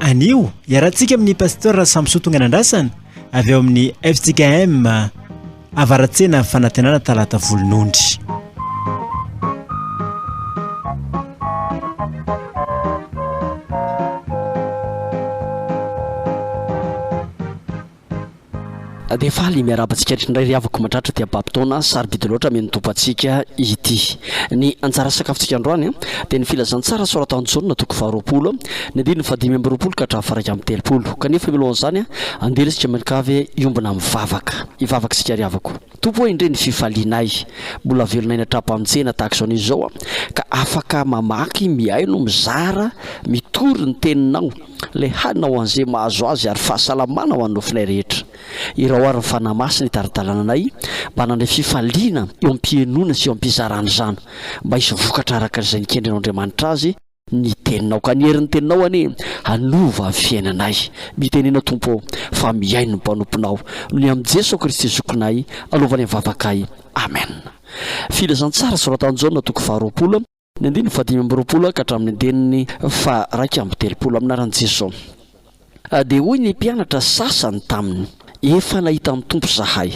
Anio, iarahantsika amin'ny Pasteur Samson Tonganandrasana avy ao amin'ny fjkm Avaratsena Fanantenana Talata Volonondry. Dia faly miarahaba antsika rehetra indray ry havako mahatratra ity hababin-taona sarobidy loatra mihaino ny Tompontsika ity. Ny anjara sakafontsika androany dia ny filazantsara soratan'i Jaona toko faharoapolo, ny andininy fahadimy amby roapolo ka hatramin'ny faharaika amby telopolo. Kanefa mialohan'izany, andeha ry isika mianakavy hiombona mivavaka. Hivavaka isika ry havako. Tompo ô indrey ny fifalianay, mbola velonay ny hatram-pantsena tahaka izao anio zao ka afaka mamaky, mihaino, mizara, mitory ny teninao, lay hanina ho an'ze mahazo azy ary fahasalamana ho an'ny nofinay rehetra. Irao ary ny Fanahy Masina hitari-dalana anay mba hanana fifaliana eo am-pihenoana sy eo am-pizarana izany, mba hisy vokatra araka izay nikendry anao Andriamanitra azy, Ny teninao ka ny herin'ny teninao anie hanova ny fiainanay. Mitenena Tompo ô, fa mihaino ny mpanomponao. Ny amin'i Jeso Kristy Zokinay anaovany ny vavakay. Amen. Filazantsara soratan'i Jaona toko faharoapolo, ny andininy fahadimy amby roapolo ka hatramin'ny andininy faharaika amby telopolo. Amin'ny anaran'i Jeso. Dia hoy ny mpianatra sasany taminy, Efa nahita ny Tompo izahay.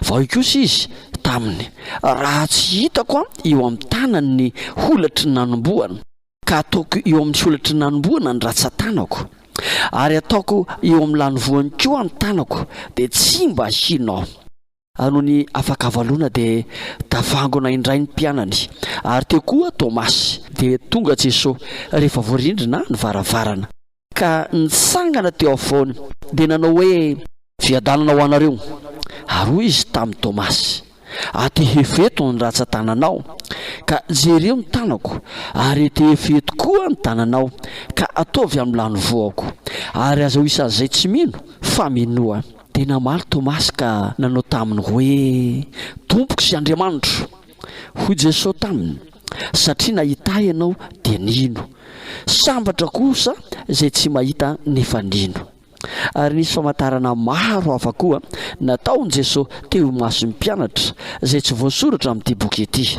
Fa hoy kosa izy taminy, Raha tsy hitako eo amin'ny tanany ny holatry ny nanombohana, ka ataoko eo amin'ny holatry ny nanombohana ny ratsan-tanako, ary ataoko eo amin'ny lanivoany koa ny tanako, dia tsy mba hino aho. A Nony afaka valona dia tavangona indray ny mpianany, ary teo koa Tomasy. Dia tonga Jeso, rehefa voarindrina ny varavarana. Ka nitsangana teo afovoany, dia nanao hoe. Fiadanana ho anareo. Ary hoy Izy tamin'i Tomasy, Atehefo eto ny ratsan-tananao, ka jereo ny tanako, ary etehefo eto koa ny tananao, ka ataovy amin'ny lanivoako. Ary aza ho isan'izay tsy mino, fa minoa. Dia namaly Tomasy ka nanao taminy hoe, Tompoko sy Andriamanitro! Hoy Jesosy taminy, Satria nahità ianao dia nino. Sambatra kosa izay tsy mahita nefa nino. Ary nisy famantarana maro hafa koa nataon'i Jesosy teo imason'ny mpianatra, izay tsy voasoratra amin'ity boky ity.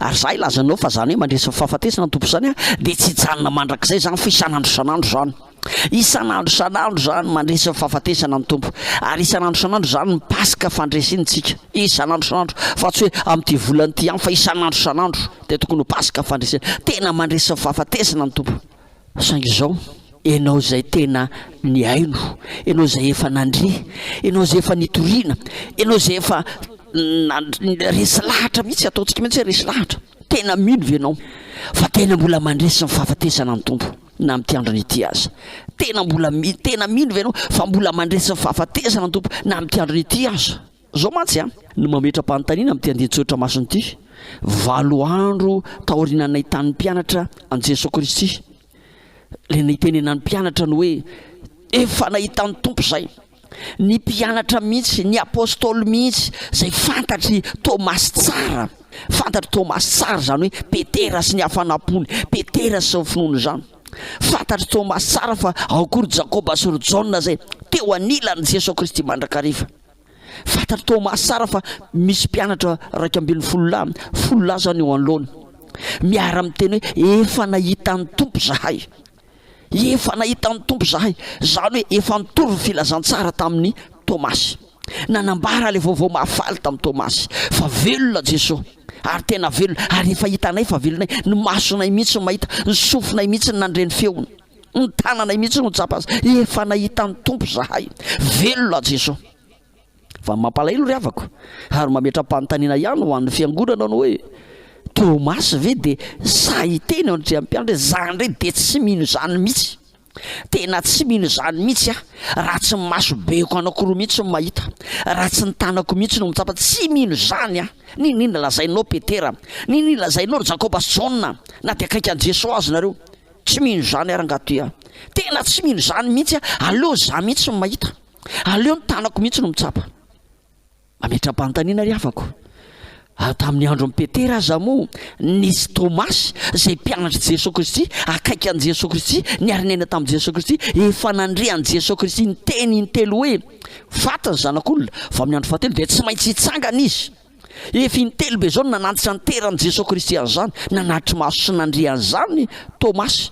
Ary za hilaza anao fa zany hoe mandresy ny fahafatesana ny Tompo zany an, dia tsy hijanona mandrakizay zany fa isan'andro isan'andro zany. Isan'andro isan'andro zany mandresy ny fahafatesana ny Tompo. Ary isan'andro isan'andro zany ny Paska fandresentsika. Isan'andro isan'andro. Fa tsy hoe amin'ity volana ity ihany fa isan'andro isan'andro dia tokony ho Paska fandresena. Tena mandresy ny fahafatesana ny Tompo. Saingy izao, ianao izay tena nihaino, ianao izay efa nandre, ianao izay efa nitoriana, ianao izay efa resy lahatra mihitsy, ataontsika mihitsy hoe resy lahatra, tena mino ve ianao fa tena mbola mandresy ny fahafatesana ny Tompo na amin'ity androny ity aza? Tena mbola, tena mino ve ianao fa mbola mandresy ny fahafatesana ny Tompo na amin'ity androny ity aza? Zao mantsy an, no mametra-panontaniana amin'ity andinin-tsoratra masina ity, valo andro taoriana nahitan'ny mpianatra an'i Jesoa Kristy, Ilay nitenenan'ny mpianatra ny hoe, Efa nahita ny Tompo izay. Ny mpianatra mihitsy, ny Apostoly mihitsy, izay fantatr'i Tomasy tsara. Fantatr'i Tomasy tsara izany hoe Petera sy ny hafanam-pony, Petera sy ny finoany izany. Fantatr'i Tomasy tsara fa ao koa ry Jakoba sy ry Jaona izay teo anilan'i Jesoa Kristy mandrakariva. Fantatr'i Thomas tsara fa misy mpianatra iraika ambin'ny folo lahy, folo lahy izany eo anoloany. Miara-miteny hoe, Efa nahita ny Tompo izahay. Efa nahita ny Tompo izahay. Izany hoe efa nitory ny filazantsara tamin'i Thomas. Nanambara ilay vaovao mahafaly tamin'i Thomas, fa velona Jesoa, ary tena velona, ary efa hitanay fa velona, ny masonay mihitsy no mahita, ny sofinay mihitsy no nandre ny feony. ny tananay mihitsy no tsapa azy efa nahita ny tompo zahay velona jeso fa mampalahelo ry havako ary mametra-panontaniana ihany ho an'ny fiangonana no hoe tomasy ve de sahiteny eo andriampiandry zany re de tsy mino zany mihitsy tena tsy mino zany mihitsy a raha tsy maso beko anakoroa mihitsy ny mahita raha tsy ny tanako mihitsy no mitsapa tsy mino zany a ny ny ny lazainao petera ny ny lazainao jakoba sy jaona na de akaiky an'i jeso azy nareo Tsy mino izany ary Ngatoy a! Tena tsy mino izany mihitsy a! Aleo za mihitsy no mahita! Aleo ny tanako mihitsy no mitsapa! Mametra-panontaniana ry havako, ary tamin'ny andron'i Petera aza moa nisy Tomasy izay mpianatr'i Jesoa Kristy, akaiky an'i Jesoa Kristy, niary niaina tamin'i Jesoa Kristy, efa nandre an'i Jesoa Kristy niteny intelo hoe, Faty ny Zanak'olona, vao amin'ny andro fahatelo dia tsy maintsy hitsangana Izy. Efa intelo be izao no nanantsinanteran'i Jesoa Kristy an'izany, nanatri-maso sy nandre an'izany Tomasy.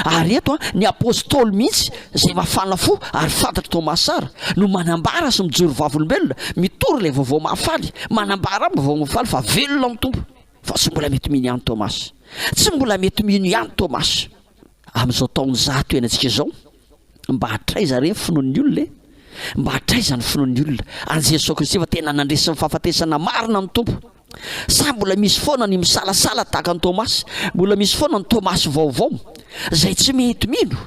Ary eto, ny Apôstôly mihitsy, izay mafana fo ary fantatr'i Tomasy tsara, no manambara sy mijoro vavolombelona, mitory ilay Vaovao Mahafaly, manambara amin'ny Vaovao Mahafaly fa velona ny Tompo. Fa tsy mbola mety mino ihany Tomasy. Tsy mbola mety mino ihany Tomasy. Amin'izao taonjato iainantsika izao, Mba hatraiza re ny finoan'ny olona e? Mba hatraiza ny finoan'ny olona an'i Jesoa Kristy fa tena nandresy ny fahafatesana marina ny Tompo? Sa mbola misy foana ny misalasala tahaka an'i Tomasy? Mbola misy foana ny Tomasy vaovao izay tsy mety mino?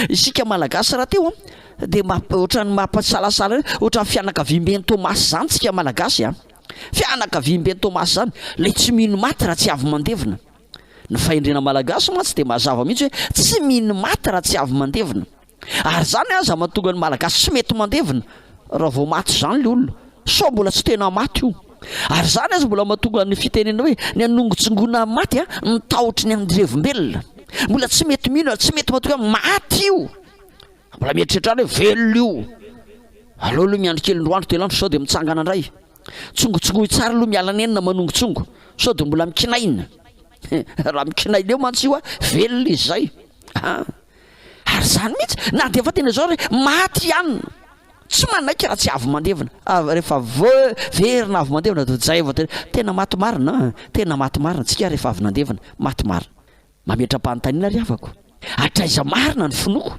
Isika Malagasy rahateo an, dia ohatran'ny mampasalasala hoe ohatran'ny fianakaviamben'i Tomasy izany tsika Malagasy an. Fianakaviamben'i Tomasy izany, ilay tsy mino maty raha tsy avy mandevina. Ny fahendrena malagasy mantsy dia mazava mihitsy hoe tsy mino maty raha tsy avy mandevina. Ary izany aza mahatonga ny malagasy tsy mety mandevina raha vao maty izany ilay olona. Sao mbola tsy tena maty io. Ary izany aza mbola mahatonga ny fitenena hoe ny hanongotsingona ny maty ny tahotry ny andirevom-belona. Mbola tsy mety mino ary tsy mety matoky hoe maty io. Mbola mieritreritra any hoe velona io. Aleo aloha miandry kely indroa andro telo andro sao dia mitsangana indray. Tsongotsongoy tsara aloha miala nenina manongotsongo sao dia mbola mikinaina raha mikinaina eo mantsy io a velona izy zay a ary zany mihitsy na dia efa tena izao re maty ihany tsy manaiky raha tsy avy mandevina ah, rehefa verina avy mandevina dia zay vao tena maty marina tena maty marina tsika rehefa avy nandevina maty marina Mametra-panontaniana ry havako, hatraiza marina ny finoako?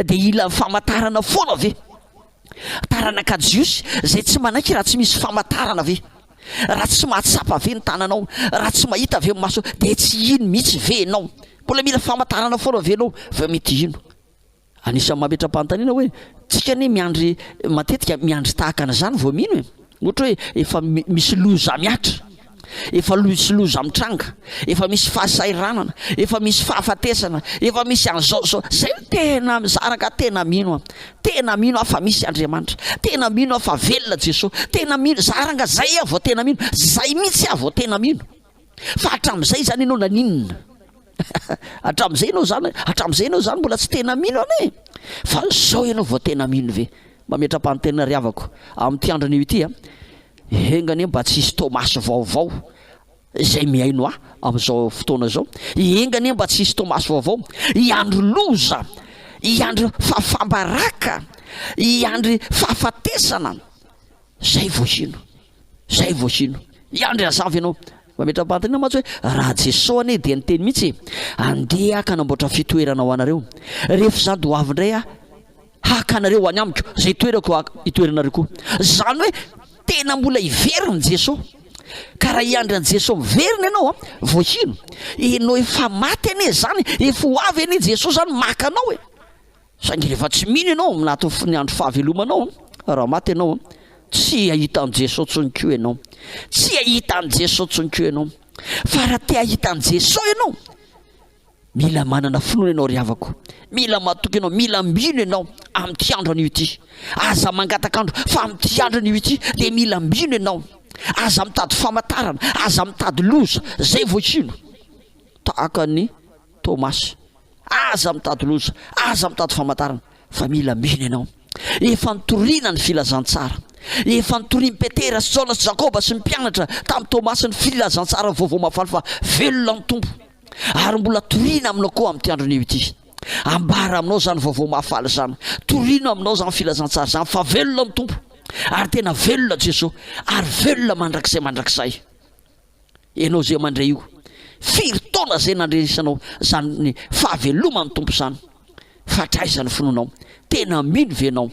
Dia hila famantarana foana ve? Taranaka jiosy izay tsy manaiky raha tsy misy famantarana ve? Raha tsy mahatsapa ve ny tananao? Raha tsy mahita ve ny masonao? Dia tsy hino mihitsy ve ianao? Mbola mila famantarana foana ve ianao vao mety hino? Anisan'ny mametra-panontaniana hoe, tsika anie miandry matetika miandry tahaka an'izany vao mino e! Ohatra hoe efa misy loza mihatra, efa misy loza mitranga, efa misy fahasahiranana, efa misy fahafatesana, efa misy an'izao zao, zay no tena za rangah tena mino an! Tena mino aho fa misy Andriamanitra, tena mino aho fa velona Jesoa, tena mino, za rangah zay aho vao tena mino, zay mihitsy aho vao tena mino. Fa hatramin'izay zany ianao naninona? hatramin'izay ianao zany, hatramin'izay ianao zany mbola tsy tena mino an e! Fa zao ianao vao tena mino ve? Mametra-panontena ry havako amin'ity andro anio ity a! Enga anie mba tsy hisy Thomas vaovao izay mihaino ahy amin'izao fotoana izao. Enga anie mba tsy hisy Thomas vaovao. I andry loza, i andry fahafambaraka, i andry fahafatesana, zay vao hino. Zay vao hino. Miandry hazava ianao. Mametra-panontaniana mantsy hoe raha Jeso anie dia niteny mihitsy e, andeha aho ka hanamboatra fitoerana ho anareo. Rehefa izany dia ho avy indray aho haka anareo any amiko, izay toerako ho itoeranareo koa. Izany hoe tena mbola hiverina Jeso. Ka raha hiandry an'i Jeso miverina ianao an, vao hino. Ianao efa maty anie izany, efa ho avy anie Jeso izany maka anao e. Saingy rehefa tsy mino ianao anatin'ny fony andro fahavelomanao, raha maty ianao, tsy hahita an'i Jesoa intsony koa ianao. Tsy hahita an'i Jesoa intsony koa ianao. Fa raha te hahita an'i Jesoa ianao, mila manana finoana ianao ry havako. Mila matoky ianao, mila mino ianao amin'ity andro anio ity. Aza mangataka andro, fa amin'ity andro anio ity dia mila mino ianao. Aza mitady famantarana, aza mitady loza, zay vao hino. Tahaka an'i Thomas. Aza mitady loza, aza mitady famantarana fa mila mino ianao. Efa nitoriana ny filazantsara. Efa nitorian'i Petera sy Jaona sy Jakoba sy ny mpianatra tamin'i Tomasy ny filazantsara ny vaovao mahafaly fa velona ny Tompo. Ary mbola toriana aminao koa amin'ity andro anio ity. Ambara aminao izany vaovao mahafaly izany. Torino aminao izany filazantsara izany fa velona ny Tompo. Ary tena velona Jesoa. Ary velona mandrakizay mandrakizay. Ianao izay mandre io, firy taona izay nandrenesanao izany fahaveloman'ny Tompo izany? Fa tra aiza ny finoanao? Tena mino ve ianao?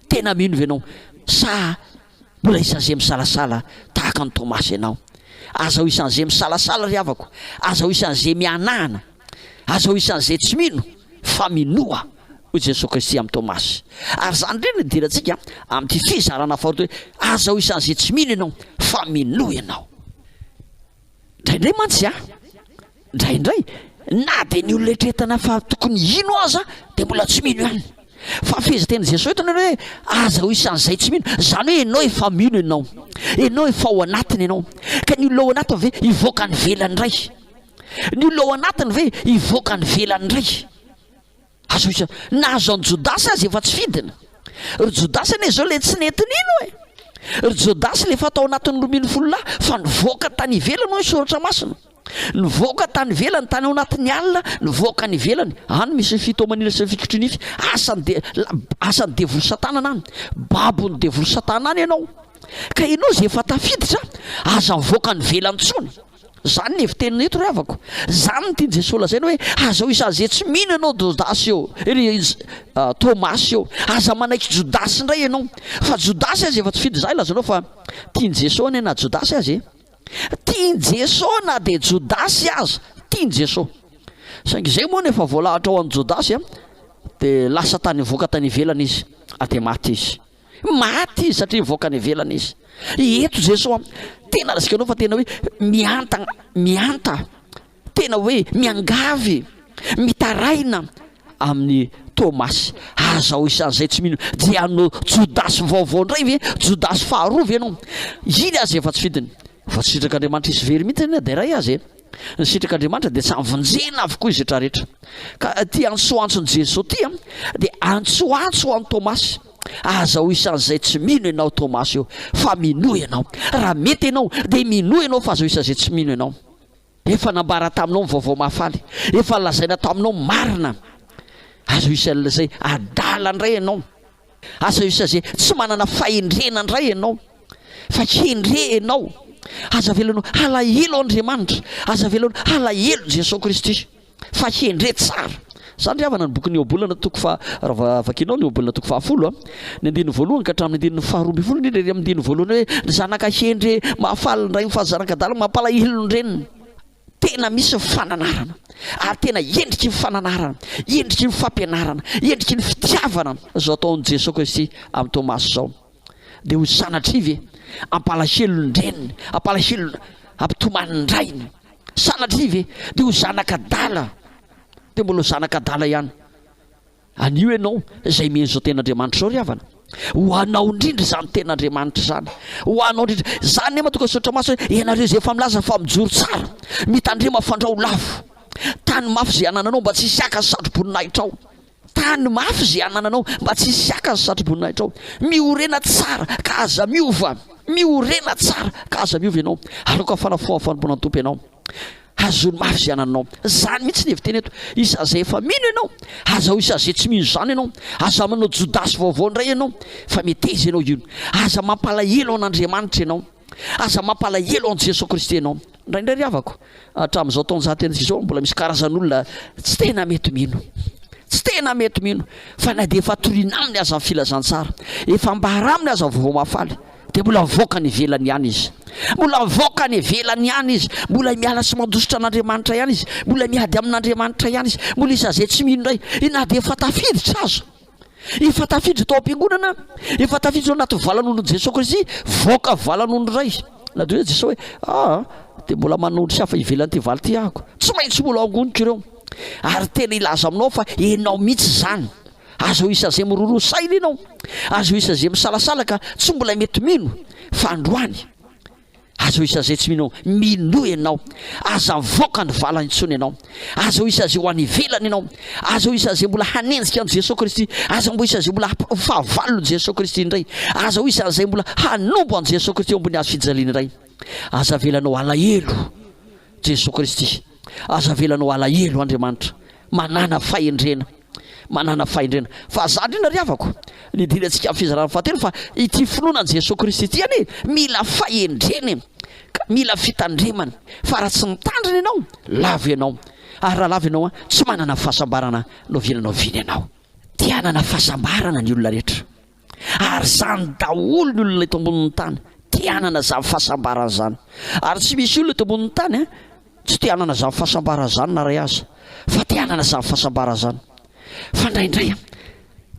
Tena mino ve ianao? Sa mbola isan'izay misalasala tahaka an'i Tomasy ianao? Aza ho isan'izay misalasala ry havako, aza ho isan'izay mihanahana. Aza ho isan'izay tsy mino, fa minoa, hoy Jesoa Kristy amin'i Tomasy. Ary izany indray no idirantsika amin'ity fizarana faharoa ity hoe, Aza ho isan'izay tsy mino ianao, fa minoa ianao. Indraindray mantsy an, indraindray, na dia ny olona eritreretana fa tokony hino aza, dia mbola tsy mino ihany. Fa fehezan-tenin'i Jesoa eto ny hoe, Aza ho isan'izay tsy mino. Izany hoe ianao efa mino ianao. Ianao efa ao anatiny ianao. Ka ny olona ao anatiny ve hivoaka any ivelany indray? Ny olona ao anatiny ve hivoaka any ivelany indray? Azo isa, na azo an'i Jodasy aza efa tsy fidiny. Ry Jodasy anie izao ilay tsy nety nino e! Ry Jodasy ilay efa tao anatin'ny roa ambin'ny folo lahy fa nivoaka tany ivelany hoy ny Soratra Masina. Nivoaka tany ivelany, tany ao anatin'ny alina, nivoaka any ivelany. Any misy ny fitomanina sy ny fikotrinify. Asan'ny de, asan'ny devoly Satana any. Babon'ny devoly Satana any ianao. Ka ianao izay efa tafiditra, aza mivoaka any ivelany intsony. Zany le fiteniny eto ry havako. Zany ny tian'i Jesoa lazaina hoe aza hoe saze tsy mino ianao Jodasy eo, ry Thomas eo. Aza manaiky Jodasy indray ianao. Fa Jodasy aza efa tsy fidy zah ilazanao fa tian'i Jesoa anie na Jodasy aza e. Tian'i Jesoa na dia Jodasy aza, tian'i Jesoa. Saingy izay moa no efa voalahatra ho an'i Jodasy dia lasa tany voaka tany ivelany izy dia maty izy. Maty izy satria nivoaka any ivelany izy. Eto Jesoa tena resaka anao fa tena hoe mihantagna, mihanta, tena hoe miangavy, mitaraina amin'ny Tomasy. Aza ho isan'izay tsy mino. Dia hanao Jodasy vaovao indray ve? Jodasy faharoa ve ianao? Iny aza efa tsy fidiny. Voasitraka Andriamanitra hisy very mihitsy anie dia iray aza e! Ny sitraka Andriamanitra dia samy vonjena avokoa izy rehetra rehetra. Ka ity antsoantson'i Jeso ity dia antsoantso ho an'i Tomasy, aza ho isan'izay tsy mino ianao Tomasy o, fa minoa ianao. Raha mety ianao dia minoa ianao fa aza ho isan'izay tsy mino ianao. Efa nambara taminao ny vaovao mahafaly. Efa nolazaina taminao ny marina. Aza isal izay adala indray ianao. Aza isal izay tsy manana fahendrena indray ianao. Fa hendre ianao. Aza avelano halahelo Andriamanitra. Aza avelano halahelo Jesoa Kristy. fa hendre tsara. Izany ry havana ny bokin'i Iobola na toko fa raha vakinao ny Iobola toko fahafolo a, ny andininy voalohany ka hatramin'ny andininy faharoa ambin'ny folo indrindra ery amin'ny andininy voalohany hoe ry zanaka hendre mahafaly ny rainy fa ry zanak'adala mampalahelo ny reniny. Tena misy ny fananarana ary tena endriky ny fananarana, endriky ny fampianarana, endriky ny fitiavana izao ataon'i Jesoa Kristy amin'i Tomasy izao. Dia ho sanatria ve? Ampalahelon-dreniny, ampalahelona, ampitomanin-drainy. Sanatria ve? Dia ho zanak'adala, dia mbola ho zanak'adala ihany. Anio ianao izay mino izao ten'Andriamanitra izao ry havana. Ho anao indrindra izany ten'Andriamanitra izany. Ho anao indrindra. Izany ne matonga sotra maso hoe ianareo izay efa milaza fa mijoro tsara, mitandrema fandrao lavo. Tany mafy izay anananao mba tsy hisy haka ny satroboninahitra ao. Tano mafy izay anananao mba tsy hisy haka ny satroboninahitranao. Miorena tsara ka aza miova. Miorena tsara ka aza miova ianao. Aloka fanafohana fanompoana ny Tompo ianao. Hazony mafy izay anananao. Izany mihitsy ny hevi-teny eto. Isazay efa mino ianao. Aza ho isazay tsy mino izany ianao. Aza manao Jodasy vaovao indray ianao. Fa meteza ianao io. Aza mampalahelo an'Andriamanitra ianao. Aza mampalahelo an'i Jesoa Kristy ianao. Indraindray ry havako, hatramin'izao taon-jaten'isa izao, mbola misy karazan'olona tsy tena mety mino. Tsy tena mety mino fa na dia efa torina aminy aza ny filazantsara, efa ambara aminy aza vaovao mahafaly, dia mbola mivoaka any ivelany ihany izy. Mbola mivoaka any ivelany ihany izy. Mbola miala sy mandositra an'Andriamanitra ihany izy. Mbola miady amin'Andriamanitra ihany izy. Mbola isan'izay tsy mino indray, na dia efa tafiditra aza. Efa tafiditra tao am-piangonana, efa tafiditra anaty valan'olon'i Jesoa Kristy, voaka valan'olona iray. Na dia hoe Jesoa hoe, ah, dia mbola manana olon-tsy hafa ivelan'ity valy ity ahako. Tsy maintsy mbola angoniko ireo. Ary tena hilaza aminao aho fa ianao mihitsy izany. Aza ho isazay miroroa saina ianao. Aza ho isazay misalasala ka tsy mbola mety mino fa androany. Aza ho isazay tsy mino ao. Minoa ianao. Aza mivoaka ny vala intsony ianao. Aza ho isazay ho any ivelany ianao. Aza ho isazay mbola hanenjika an'i Jesoa Kristy. Aza mbo isazay mbola ho fahavalon'i Jesoa Kristy indray. Aza ho isazay mbola hanombo an'i Jesoa Kristy eo ambony hazo fijaliana indray. Aza avelanao halahelo Jesoa Kristy. Aza avelanao alahelo Andriamanitra manana fahendrena manana fahendrena fa za ndrindra ry havako nidirantsika amin'ny fizarana fahatelo fa ity finoana an'i Jesoa Kristy ity anie mila fahendrena e ka mila fitandremana fa raha tsy mitandrina ianao lavo ianao ary raha lavo ianao a tsy manana fahasambarana no avilanao vina ianao te hanana fahasambarana ny olona rehetra Ary izany daholo ny olona eto ambonin'ny tany, te hanana izany fahasambarana izany. Ary tsy misy olona eto ambonin'ny tany an, tsy te hanana izany fahasambarana izany na iray aza, fa te hanana izany fahasambarana izany. Fa indraindray an,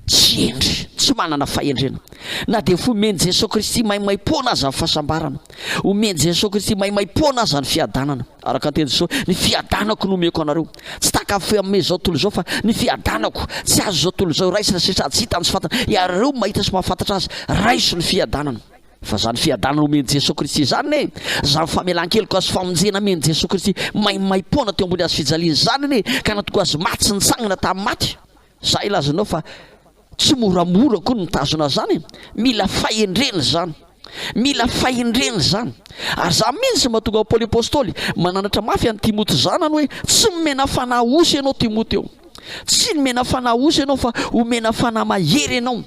tsy hendry, tsy manana fahendrena. Na dia efa omen'i Jesoa Kristy maimaimpoana aza ny fahasambarana, omen'i Jesoa Kristy maimaimpoana aza ny fiadanana, Araka ny teny Jesosy, ny fiadanako no omeko anareo. Tsy takafo amin'ny izao tontolo izao, fa ny fiadanako. Tsy azo izao tontolo izao iraisana, satria tsy hitany sy fantany. Iareo mahita sy mahafantatra Azy, raiso ny fiadanana. Fa izany fiadanana omen'i Jesosy Kristy izany anie, izany famelan-keloka sy famonjena amen'i Jesosy Kristy maimaim-poana teo ambony hazofijaliana izany anie, ka natoky Azy maty sy nitsangana tamin'ny maty. Za ilazanao fa tsy moramora koa ny mitazona zany e! Mila fahendrena zany! Mila fahendrena zany! Ary za mintsy mahatonga Paoly Apostoly mananatra mafy an'i Timoty zanany hoe, tsy nomena fanahy osy ianao Timoty o! Tsy nomena fanahy osy ianao fa omena fanahy mahery ianao!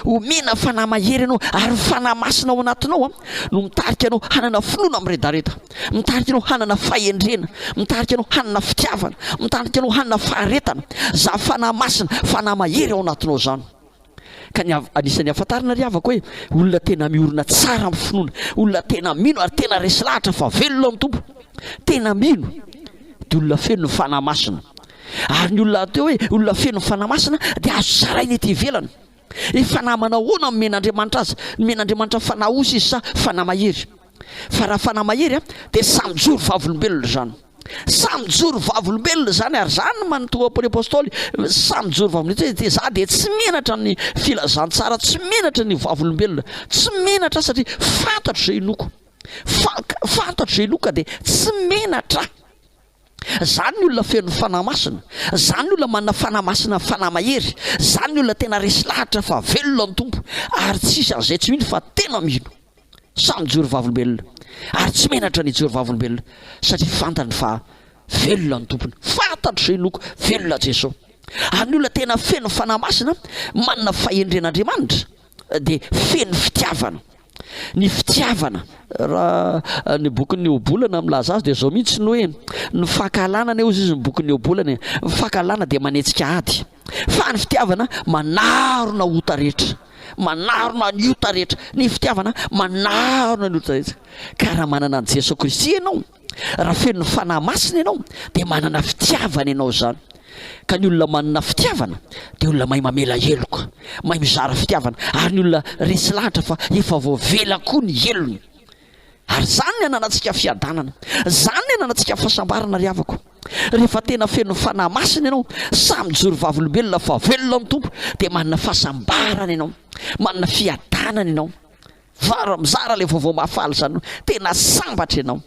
Omena fanahy mahery ianao ary ny fanahy masina ao anatinao no mitarika anao hanana finoana miredareda, mitarika anao hanana fahendrena, mitarika anao hanana fitiavana, mitarika anao hanana faharetana. Zavy fanahy masina, fanahy mahery ao anatinao izany. Ka ny anisan'ny ahafantarana ry havako hoe olona tena miorina tsara amin'ny finoana, olona tena mino ary tena resy lahatra fa velona ny Tompo, tena mino dia olona feno ny fanahy masina. Ary ny olona atao hoe olona feno ny Fanahy Masina dia azo zaraina ety ivelany. Ny fanahy manao ahoana no nomen'Andriamanitra azy? Nomen'Andriamanitra fanahy osy izy sa fanahy mahery? Fa raha fanahy mahery dia samy joro vavolombelona izany. Samy joro vavolombelona izany ary izany no manontolo ny apostoly, samy joro vavolombelona dia za dia tsy menatra ny filazantsara, tsy menatra ny vavolombelona, tsy menatra satria fantatro izay inoako, fantatro izay inoako ka dia tsy menatra. Zany ny olona feno fanahy masina, zany ny olona manana fanahy masina ny fanahy mahery, zany ny olona tena resy lahatra fa velona ny Tompo ary tsisy an'izay tsy mino fa tena mino. Samy mijoro vavolombelona ary tsy menatra ny hijoro vavolombelona satria fantany fa velona ny Tompony. Fantatro izay inoako, velona Jeso. Ary ny olona tena feno fanahy masina, manana fahendren'Andriamanitra. dia feno fitiavana. Ny fitiavana, raha ny bokin'ny Ohabolana milaza azy dia izao mihitsy ny hoe ny fankahalana anie hozy izy ny bokin'ny Ohabolana e, ny fankahalana dia manetsika ady fa ny fitiavana manarona ota rehetra, manarona ny ota rehetra, ny fitiavana manarona ny ota rehetra. Ka raha manana an'i Jesoa Kristy ianao, Raha feno ny Fanahy Masina ianao dia manana fitiavana ianao izany. Ka ny olona manana fitiavana dia olona mahay mamela heloka, mahay mizara fitiavana, ary ny olona resy lahatra fa efa voavela koa ny helony. Ary izany ny ananantsika fiadanana, izany ny ananantsika fahasambarana ry havako. Rehefa tena feno ny Fanahy Masina ianao, samy mijoro vavolombelona fa velona amin'ny Tompo, dia manana fahasambarana ianao, manana fiadanana ianao. Varo mizara le vaovao mahafaly zany hoe tena sambatra ianao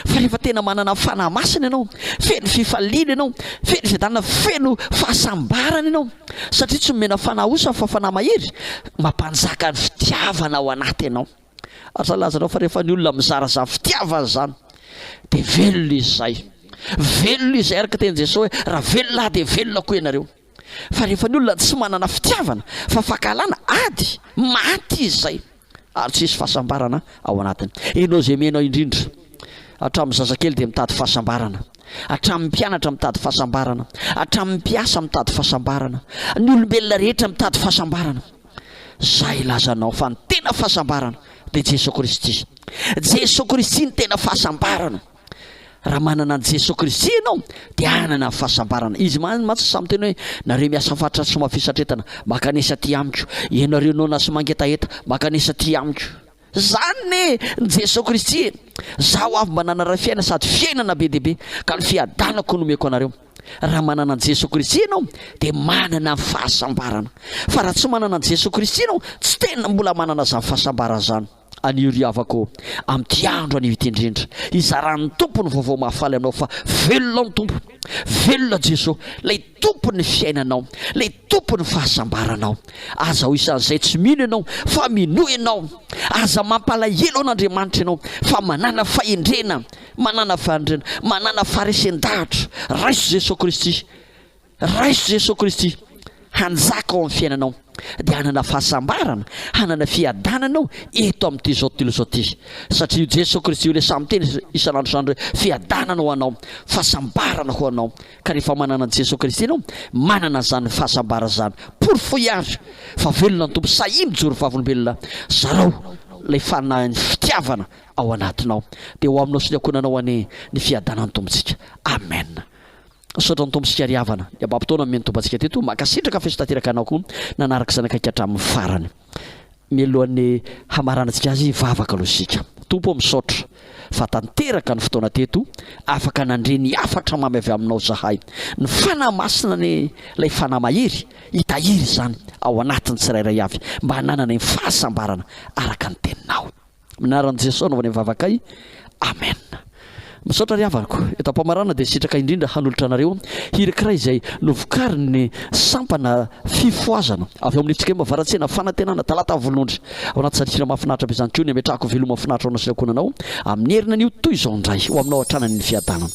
fa rehefa tena manana fanahy masina ianao feno fifaliana ianao feno fiadanana feno fahasambarana ianao satria tsy nomena fanahy osa fa fanahy mahery mampanjaka ny fitiavana ao anaty ianao ary zany lazanao fa rehefa ny olona mizara zany fitiavana zany de velona izy zay velona izay araka teny Jesosy hoe raha velona aho de velona koa ianareo Fa rehefa ny olona tsy manana fitiavana fa fankahalana, ady, maty izy izay ary tsy hisy fahasambarana ao anatiny. Ianao izay mino aho indrindra, hatramin'ny zazakely dia mitady fahasambarana, hatramin'ny mpianatra mitady fahasambarana, hatramin'ny mpiasa mitady fahasambarana, ny olombelona rehetra mitady fahasambarana. Zay ilazanao fa ny tena fahasambarana dia Jesoa Kristy. Jesoa Kristy ny tena fahasambarana. Raha manana an'i Jesoa Kristy ianao dia hanana ny fahasambarana. Izy man- mantsy samy teny hoe, nareo miasa fatratra sy mafy satretana, mankanesa aty amiko. Ianareo noana sy mangetaheta, mankanesa aty amiko. Zany ne ny Jesoa Kristy e! Zaho avy mba nanara fiaina sady fiainana be dia be ka ny fiadanako no omeko anareo. Raha manana an'i Jesoa Kristy ianao dia manana ny fahasambarana. Fa raha tsy manana an'i Jesoa Kristy ianao, tsy tena mbola manana zany fahasambarana zany. Anio ry havako ô, amin'ity andro anio ity indrindra, hizaran'ny Tompo ny vaovao mahafaly anao fa velona ny Tompo. Velona Jeso, ilay Tompon'ny fiainanao, ilay Tompon'ny fahasambaranao. Aza ho isan'izay tsy mino ianao fa minoa ianao. Aza mampalahelo an'Andriamanitra ianao fa manàna fahendrena, manàna fahendrena, manàna faharesen-dahatra. Raiso Jeso Kristy. Raiso Jesoa Kristy hanjaka ao amin'ny fiainanao dia hanana fahasambarana, hanana fiadanana ao eto amin'ity izao tontolo izao ity. Satria io Jesoa Kristy io ilay samy miteny isan'andro isan'andro hoe fiadanana ho anao, fahasambarana ho anao. Ka rehefa manana an'i Jesoa Kristy ianao, manana izany fahasambarana izany. Porofoy àry fa velona ny Tompo. Sahia mijoro vavolombelona. Zarao ilay fanahin'ny fitiavana ao anatinao. Dia ho aminao sy ny ankohonanao anie ny fiadanan'ny Tompontsika. Amen. Misaotra ny Tompo isika ry havana. Ny Ababo Taona nomeny Tompo antsika teto. Mankasitraka f'efa tanteraka anao koa nanaraka izany akaiky hatramin'ny farany. Mialohan'ny hamaranantsika azy vavaka aloha isika. Tompo ô misaotra fa tanteraka ny fotoana teto, afaka nandre ny hafatra mamy avy aminao zahay. Ny Fanahy Masina anie ilay Fanahy mahery hitahiry izany ao anatin'ny tsirairay avy mba hananany ny fahasambarana araka ny teninao. Minaran'i Jesoa anaovany ny vavakay. Amen. Misaotra ry havako. Eto ampamarana dia sitraka indrindra hanolotra anareo hirikiray izay novokarin'ny sampana fifohazana avy ao amin'ny Tsikema Varatsena Fanantenana Talata Volonondry. Ao anaty sary hira mahafinaritra be izany koa ny ametrahako veloma finaritra ao anasirakoana anao amin'ny herinan'io toy izao indray ho aminao hatrany any ny fiadanana.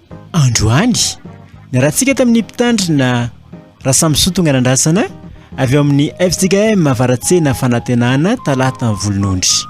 Androany, niarahantsika tamin'ny mpitandrina Rasamison Tonganandrasana avy ao amin'ny FJKM Avaratsena Fanantenana Talata amin'ny Volonondry.